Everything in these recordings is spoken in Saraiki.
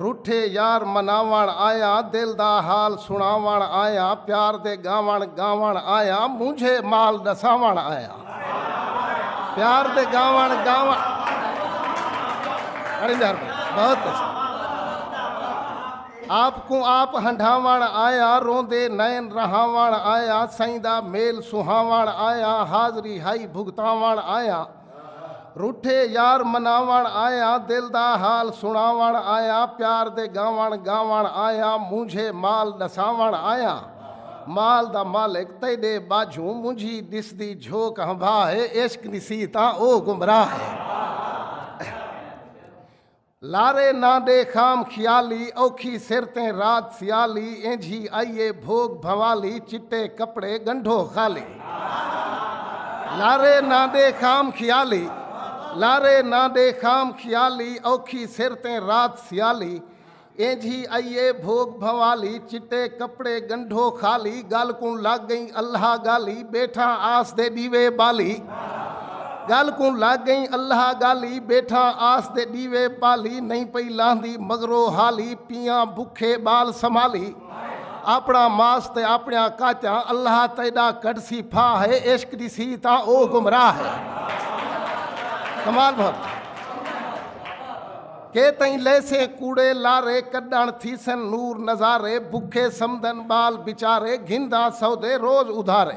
روٹھے یار مناوݨ آیاں دل دا حال سݨاوݨ آیاں پیار دے ڳاوݨ ڳاوݨ آیاں مونجھے مال ݙساوݨ آیاں پیار دے ڳاوݨ ڳاوݨ بڑی مہربانی بہت اچھا آپ کوں آپ ہنڈھاوݨ آیاں روندے نین رہاوݨ آیاں سئیں دا میل سہاوݨ آیاں حاضری ہائی بھگتاوݨ آیاں روٹھے یار مناوݨ آیاں دل دا حال سݨاوݨ آیاں پیار دے گاوݨ گاوݨ آیاں مونجھے مال ݙساوݨ آیاں مال دا مالک تیݙے ٻاجھوں مونجھی ݙسدی جھوک ہنبھا ہے عشق ݙسی تاں او گمراہ ہے۔ لارے ناں دے خام خیالی اوکھی سر تیں رات سیالی اینجھی آئی اے بھوگ بھنوالی چٹے کپڑے گنڈھو خالی لارے ناں دے خام خیالی لارے ناں دے خام خیالی اوکھی سر تیں رات سیالی اینجھی آئی اے بھوگ بھنوالی چٹے کپڑے گنڈھو خالی گل کوں لگ گئیں اللہ گالی بیٹھاں آس دے ڈیوے بالی گل کوں لگ گئیں اللہ گالی بیٹھاں آس دے ڈیوے پالی نہیں پئی لاندی مگرو حالی پیاں بکھے بال سمالی اپنا ماس تے اپنیاں کاچاں اللہ تیڈا کڈسی پھا ہے عشق ڈسی تاں او گمراہ ہے کمال بھر کہ تئیں لیسے کوڑے لارے کڈن تھیسن نور نظارے بکھے سمدن بال بچارے گھنداں سودے روز ادھارے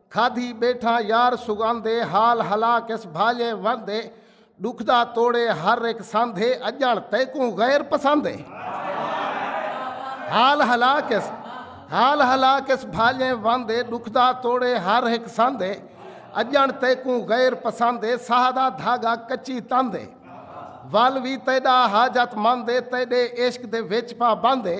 کھادھی ٻیٹھاں یار سگھند اے حال ہلا کس بھاڄے وند اے ݙکھ دا توڑے ہر ہک سندھ اے اڄݨ تیکوں غیر پسند اے حال ہلا کس حال ہلا کس بھاڄے وند اے ݙکھ دا توڑے ہر ہک سند اے اڄݨ تیکوں غیر پسند اے ساہ دا دھاڳا کچی تند اے ول وی تیݙا حاجت مند اے تیݙے عشق دے وچ پابند اے